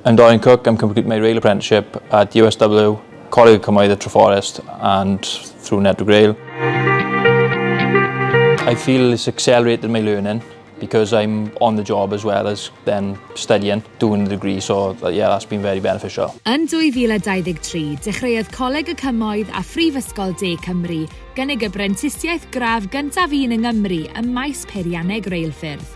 Yn Doren Cook, I'm completing my rail apprenticeship at USW, Coleg y Cymoedd at Treforest and through Network Rail. I feel it's accelerated my learning because I'm on the job as well as then studying, doing the degree, so yeah, that's been very beneficial. Yn 2023, dechreuodd Coleg y Cymoedd a Phrifysgol De Cymru gynnig y brentisiaeth gradd gyntaf un yng Nghymru ym maes peirianneg reilffyrdd.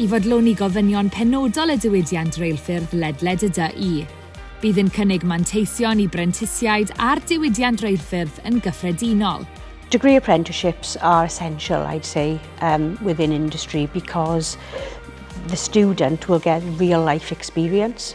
I fodloni gofynion penodol y diwydiant reilffyrdd ledled y du, bydd yn cynnig manteision i brentisiaid a'r diwydiant reilffyrdd yn gyffredinol. Degree apprenticeships are essential, I'd say, um, within industry because the student will get real life experience.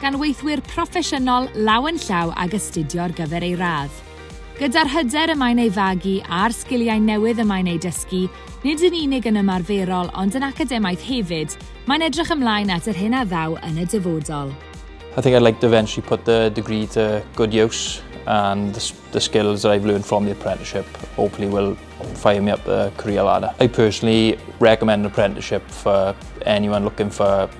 gan weithwyr proffesiynol law yn llaw ag astudio ar gyfer ei radd. Gyda'r hyder y mae'n ei fagu a'r sgiliau newydd y mae'n eu dysgu, nid yn unig yn ymarferol ond yn academaidd hefyd, mae'n edrych ymlaen at yr hyn a ddaw yn y dyfodol. I think I'd like to eventually put the degree to good use and the, the skills that I've learned from the apprenticeship hopefully will fire me up the career ladder. I personally recommend an apprenticeship for anyone looking for